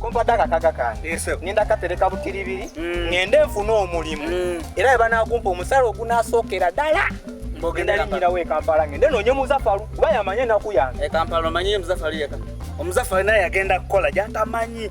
kompadde akakaga kange ngenda katereka butiribiri mm. ngende nfune omulimu mm. era webanakumpa omusala ogunasookera ddala ngenda linyirawo ekampala ngende noonye muzafalu kuba yamanyi enaku yange ekampala omanyi muzafalu yeka omuzafalu naye yagenda kukola gyatamanyi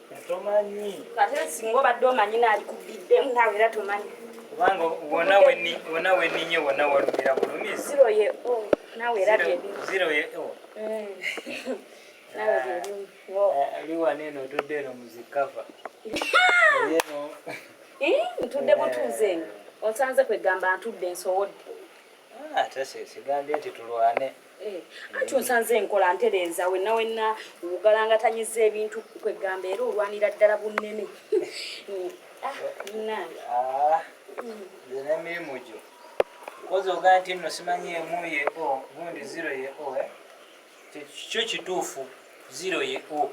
tomanyi kate singa obadde omanyi naalikubiddemu naawe era tomanyi kubanga wona weni wona weninye wona walumira bulumi ziro ye o oh, naawe era byebimu ziro ye o oh. mm. naawe byebimu liwana eh, eno otudde eno muzikava eno eh, ntudde butuuze eno eh. onsanze kwegamba ntudde nsowodde ah, ate sigambye nti tulwane Eh, anti onsanze enkola ntereeza wenna wenna wugalangatanyiza ebintu kwegamba era olwanira ddala bunnene ah, munange ah, nze nemirimu gyo koza ogaa nti nno simanyi emu ye o gundi ziro ye o eh? kyo kituufu ziro ye o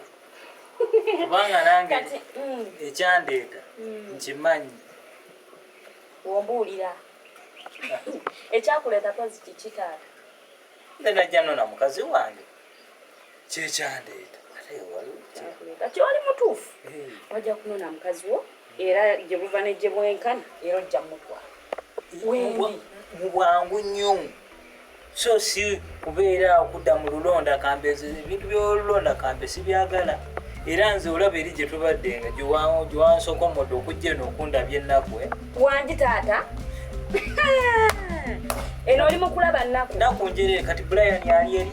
kubanga nange mm. ekyandeeta mm. nkimanyi wombuulira ekyakuleeta kozi kiki taata nze najja nona mukazi wange kyekyandeeta kati oli mutuufu wajja kunona mukazi wo era gye buva ne gye bwenkana era ojja mutwala wendi mu bwangu nnyo so si kubeera awo kudda mu lulonda kambe ezo ebintu byolulonda kambe sibyagala era nze olaba eri gye tubadde nga gyewansokomodde okujja eno okundabya ennaku eh? wangi taata eno oli mukulaba nnaku naku njere kati brian yali eri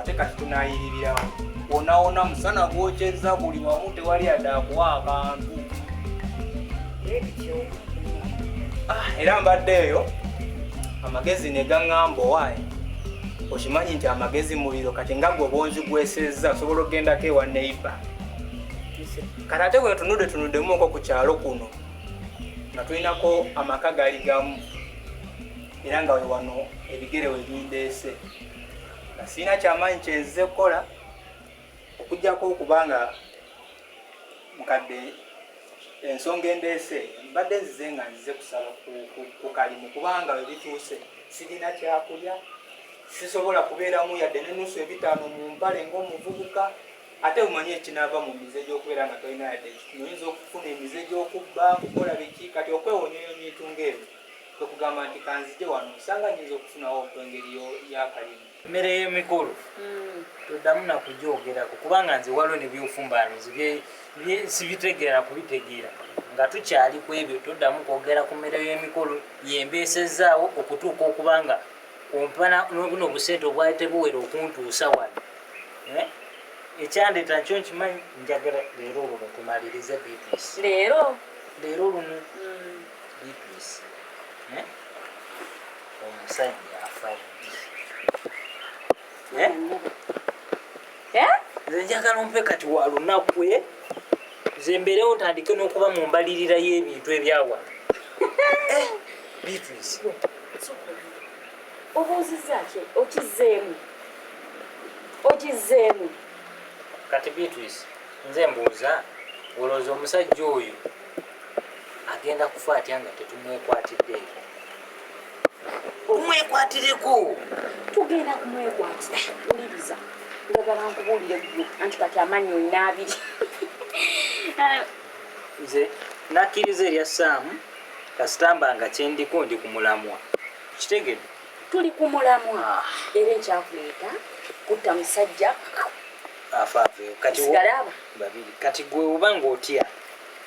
ate kati tunayiririrawo wonawona musana gwokyeza buli wamu tewali adakuwa akantu ah, era mbadde eyo amagezi negaŋamba owaye okimanyi nti amagezi muliro kati nga gwe obwonzi gwesezza osobola okugendako ewa neiba kati ate bwetunude tunudemuko ku kyalo kuno nga tulinako amaka gali gamu era nga wewano ebigere webindeese nga sirina kyamaanyi kyenzize kukola okujjako okuba nga mukadde ensonga endeese mbadde nzize nga nzize kusaba ku kalimu kubanga webituuse sirina kyakulya sisobola kubeeramu yadde nenusu ebitaano mu mpale ngaomuvubuka ate omanyi ekinaava mu mize gyokubeera nga tolina yadde oyinza okufuna emize gyokubba kukola biki kati okwewonyoyo ebintu ngaebyo kwe kugamba nti kanzije wano nsanga nyinza okufunawo okwengeri y'akalimu mmere y'emikolo hmm. toddamu nakugyogerako kubanga nze waliwo nebyofumbaano sibitegeera kubitegeera nga tukyali ku ebyo toddamu kwogera ku mmere y'emikolo yembeesezaawo okutuuka okubanga ompana nobuno obusente obwali tebuwera okuntuusa wano eh? ekyandeeta nkyo nkimanyi njagala leero olwo tumalirize bps leero leero lumu hmm. omusajja afa ddi nze njagala ompe kati wa lunaku e nze mbeerewo ntandike n'okuba mu mbalirira y'ebintu ebyawa eh, beatrice obuuzizza ki okizzeemu okizzeemu kati beatrice nze mbuuza olowooza omusajja oyo agenda kufa atya nga tetumwekwatiddeeko omwekwatireko tugenda kumwekwatira uliriza njagala nkubuulire gwe anti kati amaanyi olina abiri nze nakkiriza erya saamu kasitamba nga kyendiko ndi ku mulamwa kitegede tuli ku mulamwa ah. era ekyakuleeta kutta musajja afaaveyo kati gwe oba ngaotya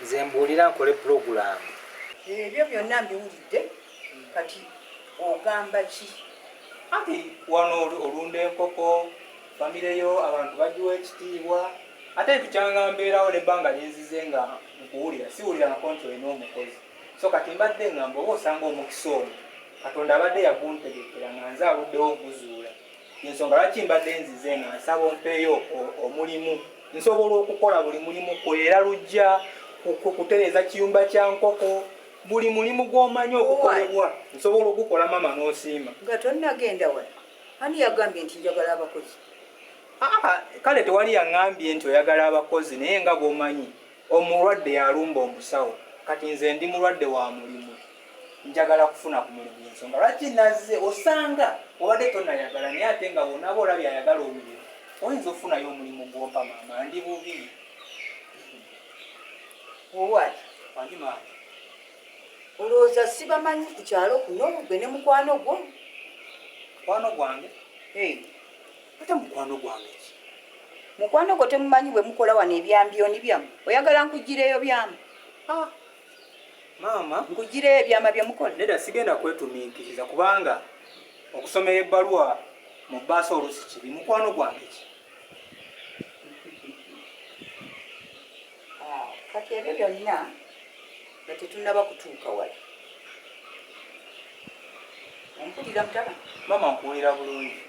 Nze mbuulira nkole pulogulaamu. Ebyo byonna mbiwulidde kati ogamba ki? Anti wano olunda enkoko, famire yo abantu bagiwa ekitiibwa ate ntukyanga mbeerawo n'ebbanga linzize nga nkuwulira siwulira nako nti olina omukozi so kati mbadde ngamba oba osanga omukisa omu katonda abadde yaguntegekera nga nze aluddewo oguzuula yensonga lwaki mbadde nzize nga nsaba ompeeyo omulimu nsobola okukola buli mulimu kwera lujja kutereza kiyumba kya nkoko buli mulimu gwomanyi okukolebwa nsobola ogukola mama nosiima nga tonnagenda wa ani yagambye nti njagala abakozi ah, kale tewali yaŋambye nti oyagala abakozi naye nga bwomanyi Omulwadde yalumba omusawo kati nze ndi mulwadde wa mulimu njagala kufuna ku mulimu yensonga lwaki nazze osanga obadde tonayagala naye ate nga bwonaba olabye ayagala omulimu oyinza okufunayo omulimu gwompa maama ndi bubi owaki wangi maama olowooza sibamanyi ku kyalo kuno gwe ne mukwano gwo mukwano gwange Ate mukwano gwange ki? Mukwano gwo temumanyi bwe mukola wano ebyambyoni byamu. Oyagala nkugireyo byamu? Ah. Maama. Nkugireyo ebyama bye mukola? Neda sigenda kwetuminkiriza kubanga okusomera ebbaluwa mu bbaasa olusi kibi. Mukwano gwange ki? kati ebyo byonna nga tetunaba kutuuka wala ompulira mutaba maama nkuwulira bulungi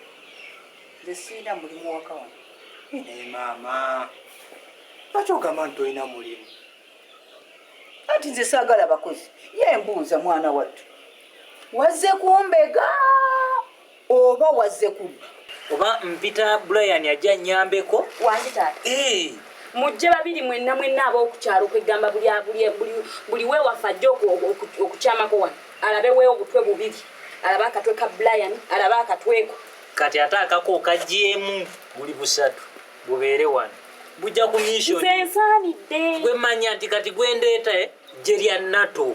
nze sirina mulimu waka wano naye maama lwaki ogamba nti tolina mulimu anti nze saagala bakozi ye mbuuza mwana wattu wazze kumbega Oba wazze kubba. Oba mpita Brian ajja nnyambeko. Wangi taata. Ee. Mujje babiri mwenna mwenna ab'okukyalo kweggamba buli abuli buli buli weewaffe ajja okukyamako wano alabe weewo butwe bubiri alabe akatwe ka Brian alabe akatweko. Kati ate akako kagyemu buli busatu bubeere wano bujja ku mission. Nze nsaanidde. Gwe manya nti kati gwendeeta eh, gye lya NATO.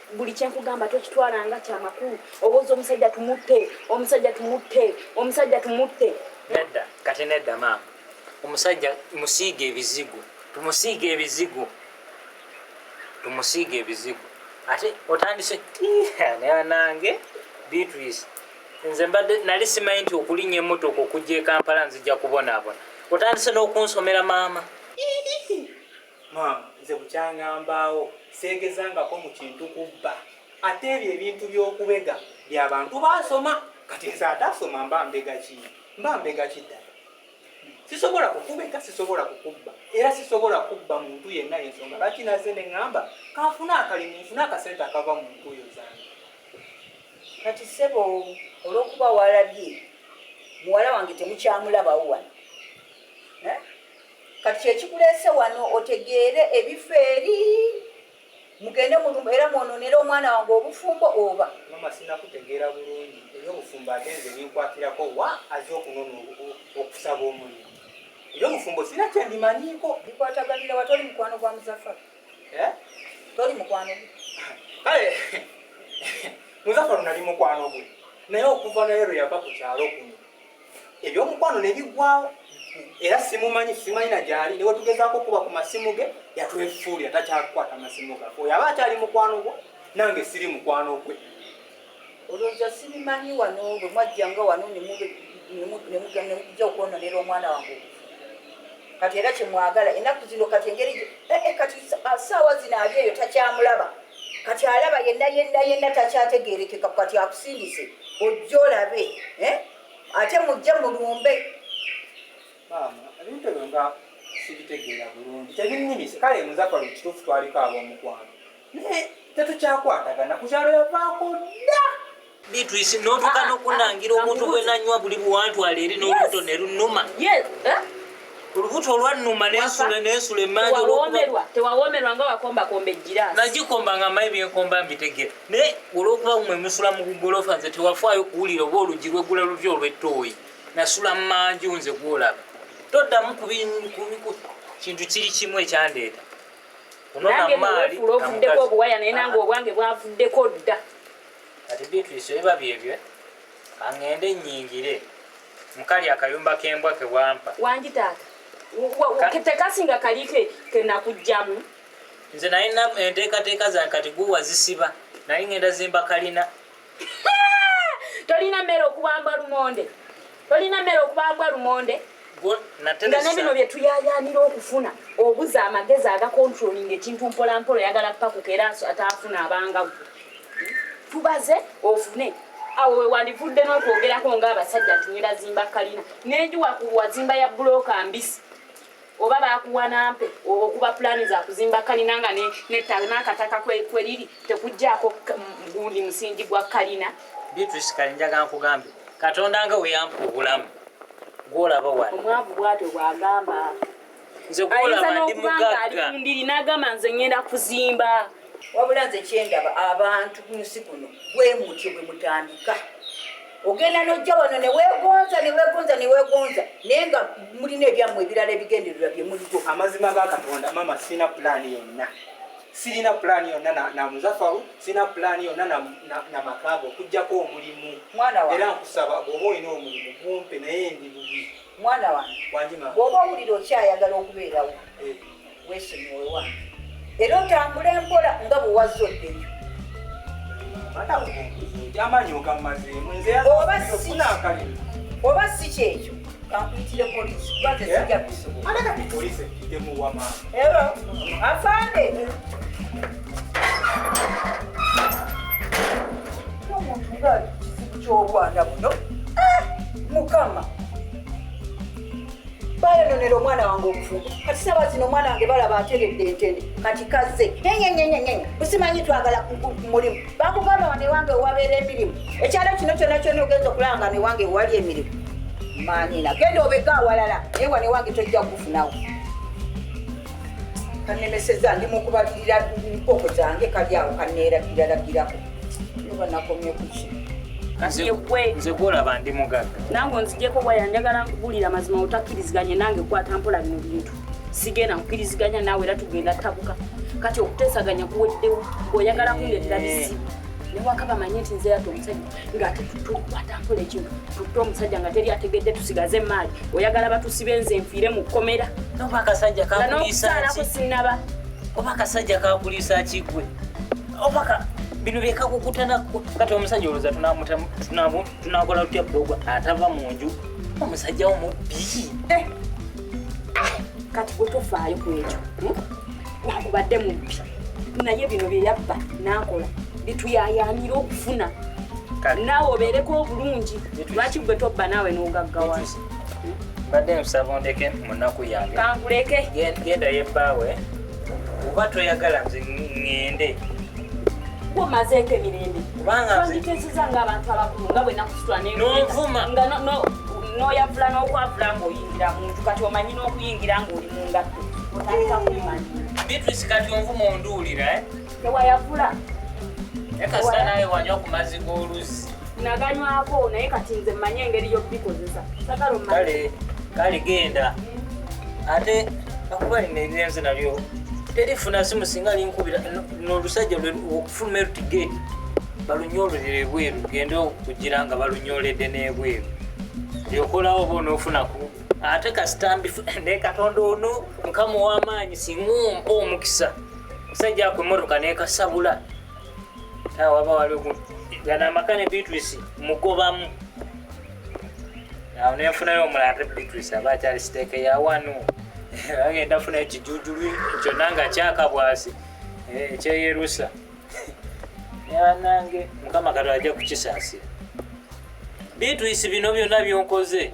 buli kyenkugamba tokitwala nga kyamakulu owoza omusajja tumutte omusajja tumutte omusajja tumutte nedda kati nedda maama omusajja musiiga ebizigo tumusiiga ebizigo tumusiiga ebizigo ate otandise nange beatrice nze mbadde nali simanyi nti okulinya emotoka okujja ekampala nzija kubonaabona otandise n'okunsomera maama Maam nze bukyanga mbaawo seegezangako mu kintu kubba ate ebyo ebintu by'okubega bya bantu baasoma kati nze ataasoma mba mbega ki mba mbega ki ddala sisobola kukubega sisobola kukubba era sisobola kubba muntu yenna yensonga lwaki naze ne ŋŋamba kanfuna akalimu nfuna akasente akava mu ntuuyo zange kati ssebo olw'okuba waalabye muwala wange temukyamulabawo wano eh? kati kyekikuleese wano otegeere ebifo eri mugende mulumba era mwononera omwana wange obufumbo oba mama sinakutegeera bulungi eri obufumbo ate nze binkwatirako wa aze okunona okusaba omulimu eri obufumbo sina kyendimanyiiko bikwataganira wa toli mukwano gwa muzafa eh? toli mukwano gwe kale muzafa lunali mukwano gwe naye okuva naye lwe yava ku kyalo kuno ebyomukwano ne biggwawo era simumanyi simanyi na gyali ne wetugezaako okuba ku masimu ge yatwefuulira takyakukwata masimu gaffe oyo aba akyali mukwano gwo nange siri mukwano gwe olowooza sibimanyi wano bwe mwajjanga wano ne mujja okwononera omwana wange kati era kyemwagala enaku zino kati engeri eh, eh, kati ah, saawa zino ali eyo takyamulaba kati alaba yenna yenna yenna takyategerekeka kati akusindise ojja olabe eh? ate mujje mulumbe ebintu ebyo nga sibitegeera bulungi tebinnimise kale muzafar ekituufu twaliko ab'omukwano naye tetukyakwatagana ku kyalo yavaako dda Beatrice notuka ah, nokunangira ah, omuntu bwenanywa buli buwantwala eri n'olubuto ne lunuma eh? olubuto olwannuma nensula nensula emanja tewawomerwa nga wakombakomba ejjirasi nagikomba nga mayi byenkomba mbitegera naye olwokuba mwe musula mu gugolofa nze tewafaayo kuwulira oba olugi lweggula luvi olw'ettooyi nasula mu manju nze gwolaba toddamu ku kintu kiri kimu ekyandeeta onona maali obuwaya naye nange obwange bwavuddeko dda kati beatrice ebiba byebyo angende nyingire mukali akayumba kembwa kewampa wangi taata tekasinga kali kenakujjamu nze naye enteekateeka zange kati guwa zisiba naye ngenda zimba kalina tolina mmere okuwamba lumonde tolina mmere okuba mbwa lumonde nga ne bino bye tuyayaanira okufuna obuza amagezi agakontrolinga ekintu mpolampola oyagala pakuka era ataafuna abanga gwe tubaze ofune awo wewandivudde n'okwogerako ng'abasajja nti nilazimba kalina nenjuwakuwazimba ya bulooka mbisi oba bakuwa nampe okuba pulani zakuzimba kalina nga nettale n'akataka kweriri tekuggyako gundi musingi gwa kalina beatrice kali njaga nkugambe katonda nga weyampa obulamu gwolaba wano omwavu bwatyo bwagamba nze gwolaba ndi mugagga ndiri nagamba nze ngenda kuzimba wabula nze kyendaba abantu kunsi kuno bwemutyo bwemutandika ogenda nojja wano newegonza newegonza newegonza naye nga mulina ebyammwe ebirala ebigendererwa byemuligo amazima ga katonda mama sirina pulaani yonna sirina pulaani yonna namuzafawo sirina pulaani yonna namakaaga okujjako omulimu era nkusaba bwoba olina omulimu gumpe naye ndi bubi mwana wange bwoba owulira okyayagala okubeerawo eh. weesonyiwe wange era otambule mpola nga bwe wazza oddeyo oba si kyekyo kampitire polisi kuba tezija kusobola afande omuntu nga kizibu ky'obwana buno eh, mukama bayononera omwana wange obufumbo kati saba zino omwana wange balaba ateredde entende kati kazze enyenyenyenyenye busimanyi twagala mulimu bakugamba wano ewange ewabeera emirimu ekyalo kino kyona kyona ogenza okulanga no ewange ewali emirimu manyina genda obega awalala naye wano ewange tojja kufunawo kanemeseza ndi mukubalirira mpoko zange kali awo kaneeragiraragirako banakomye kuki nze gwolaba ndi mugaga nange onzijeko waya njagala nkubulira mazima otakkiriziganye nange kwata mpola bino bintu sigenda nkukiriziganya naawe era tugenda tabuka kati okuteesaganya kuweddewo ngaoyagala kundeetera bizibu newakaba manye nti nze yata omusajja ngaate tukwata mpola ekintu tutta omusajja nga teri ategedde tusigaze emaali oyagala batusibe nze nfiire mu kkomera nokusaalako sinaba oba akasajja kakuliisa kigwe opaka bino byekakukutana kati omusajja oloza tunakola tutya bulogo atava mu nju omusajja omubbi eh. ah, kati otofaayo ku ekyo hmm? nakubadde mubbi naye bino byeyabba nakola bituyayanira okufuna naawe obeereko obulungi lwaki gwe tobba naawe n'ogaggawa mbadde nsaba ondeke munaku yange kankuleke genda yebbaawe oba toyagala nze ŋŋende kumazeeko emirembe twanditeeseza ngaabantu abakulu nga bwe nakusitula nenvuma nga noyavula n'okwavula ng'oyingira muntu kati omanyi n'okuyingira ng'oli mu ngatto otandika kumanyi beatrice kati onvuma onduulira eh? tewayavula ekasita naye wanywa ku mazzi g'oluzzi naganywako naye kati nze mmanye engeri y'okubikozesa kale kale genda ate akuba lino erirenze nalyo terifuna simu singa linkubira nolusajja okufuluma eruti geeti balunyololera ebweru genda okugira nga balunyoledde n'ebweru lyokolawo oba onofunaku ate kasitambi naye katonda ono mukama ow'amaanyi singa ompa omukisa musajja ako emmotoka nekasabula awaba waliwo gana amaka ne beatrice mugobamu awo nenfunayo omulala te beatrice aba akyali siteeke ya wano agenda funa ekijujulu kyonna nga kyakabwasi eh, ekyeyerusa yanange mukama katonda ajja kukisaasira beatrice bino byonna byonkoze